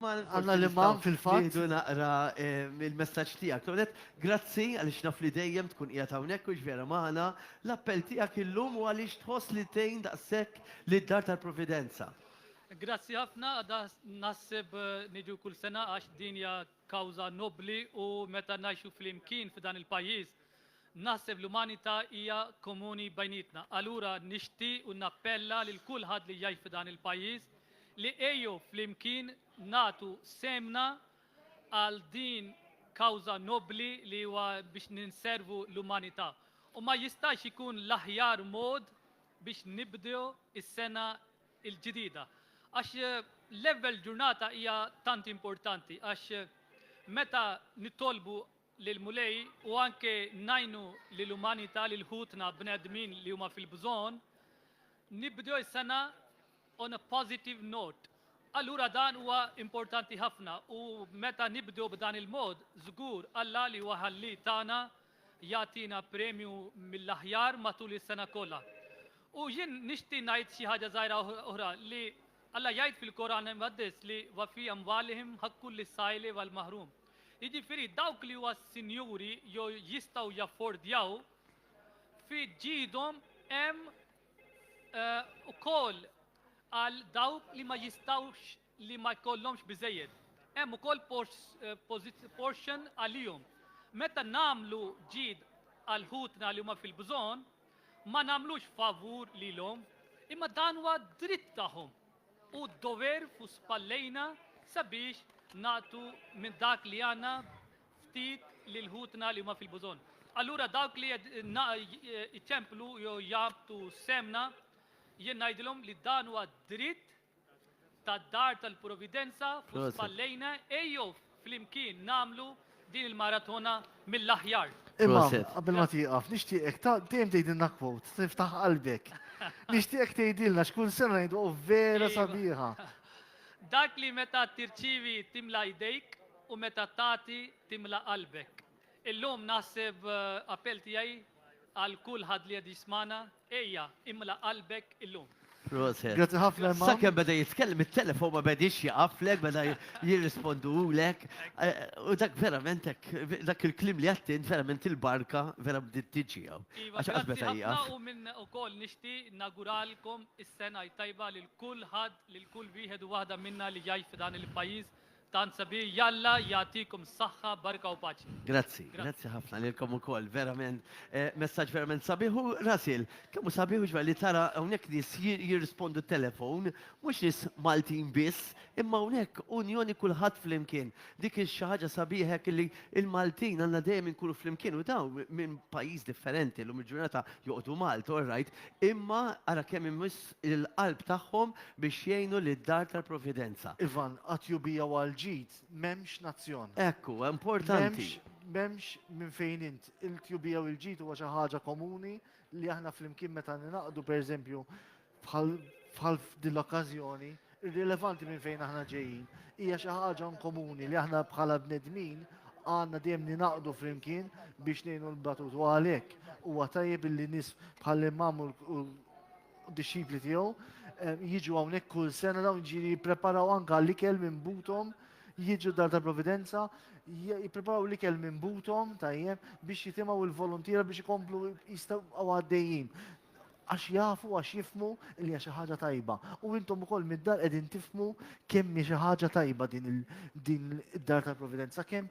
Għandna l-Imam fil-fatt. Nieħdu naqra l-messaġġ tiegħek. L-ewwel nett, grazzi għaliex naf li dejjem tkun qiegħed hawnhekk u x'vera magħna. L-appell tiegħek illum u għaliex tħoss li tgħin daqshekk lid-Dar tal-Providenza? Grazzi ħafna, għadha naħseb niġu kull sena għax din hija kawża nobbli u meta ngħixu flimkien f'dan il-pajjiż Naħseb l-umanità hija komuni bejnietna. Allura nixtieq u nappella lil kulħadd li jgħix f'dan il-pajjiż li ejjew flimkien nagħtu sehemna għal din kawża nobbli li huwa biex ninservu l-umanità. U ma jistax ikun l-aħjar mod biex nibdew is-sena l-ġdida. Għax l-ewwel ġurnata hija tant importanti għax meta nitolbu lill-Mulej u anke ngħinu lill-umanità, lil ħutna bnedmin li huma fil-bżonn, nibdew is-sena on a positive note. Allura dan huwa importanti ħafna u meta nibdew b'dan il-mod, żgur Alla li huwa Ħalli tagħna jagħtina premju mill-aħjar matul is-sena kollha. U jien nixti ngħid xi ħaġa żgħira oħra li Alla jgħid fil-Koran Imqaddes li wa fi amwalihim haqqul lis-sa'ili wal-mahrum. jiġifieri dawk li huwa sinjuri jew jistgħu jaffordjaw, fi ġidhom hemm ukoll għal dawk li ma jistgħux li ma jkollhomx biżejjed. Hemm ukoll portion għalihom. Meta nagħmlu ġid għal ħutna li huma fil-bżonn, ma nagħmlux favur lilhom, imma dan huwa dritt tagħhom. Hu d-dover fuq spallejna sabiex nagħtu minn dak li għandna ftit lil ħutna li huma fil-bużonn. Allura dawk li jċemplu jew jabtu semna, jien ngħidilhom li dan huwa dritt tad-dar tal-providenza fuq spallejna ejjew Flimkien nagħmlu din il-maratona mill-aħjar. Imma, qabel ma tieqaf, nixtieqek ta' dejjem tgħidilna kwot, tiftaħ qalbek. Nixtieqek tgħidilna x'kull sena ngħidu oh, vera iva. sabiħa. Dak li meta tirċivi timla jdejk u meta tagħti timla qalbek. Illum naħseb eh, appell tiegħi għal kulħadd li qed jismana Ejja, imla qalbek illum. Proset. Grazzi ħafna Imam. Sakemm beda jitkellem it-telefon ma bediex jaqaflek, beda jirrispondulek. Eh, u dak verament dak il-klim li għattint verament il-barka vera bdiet tiġi hawn. Iva, Għax qatt beda jaqaf. U minn ukoll nixti naguralkom is-sena tajba lil kulħadd, lil kull wieħed u waħda minna li jgħix f'dan il-pajjiż Tant sabiħ jalla jagħtikom s-saħħa barka u paċi. Grazzi, grazzi ħafna lilkom ukoll, verament messaġġ verament sabiħ u Russell, kemm hu sabiħ u xbel li tara hawnhekk nies jirrispondu telefon, mhux nies Maltin biss, imma hawnhekk unjoni kulħadd flimkien. Dik hi xi ħaġa sabiħa hekk illi l-Maltin għandna dejjem inkunu flimkien u dawn minn pajjiż differenti llum il-ġurnata joqogħdu Malta, all right, imma ara kemm imiss il-qalb tagħhom biex jgħinu lid-dar tal-Providenza. Ivan, għat-tjubija u għall-ġid m'hemmx nazzjon. Hekk hu, importanti. M'hemmx minn fejn int. Il-tjubija u l-ġid huwa xi ħaġa komuni li aħna flimkien meta ningħaqdu pereżempju bħal f'din l-okkażjoni. Irrilevanti minn fejn aħna ġejjin, hija xi ħaġa inkomuni li aħna bħala bnedmin għandna dejjem ninaqdu flimkien biex ngħinu l-batut u għalhekk huwa tajjeb li nies bħal imam u dixxipli tiegħu eh, jiġu hawnhekk kull sena dawn ġiri jippreparaw anke l-ikel minn butom jiġu dar ta' providenza, jipreparaw li kell minn butom tajjeb biex jitimaw il-volontira biex ikomplu jistaw għaddejjin. Għax jafu, għax jifhmu li hija xi ħaġa tajba. U intom ukoll mid-dar qegħdin tifhmu kemm hi xi ħaġa tajba din id-dar tal-providenza, kemm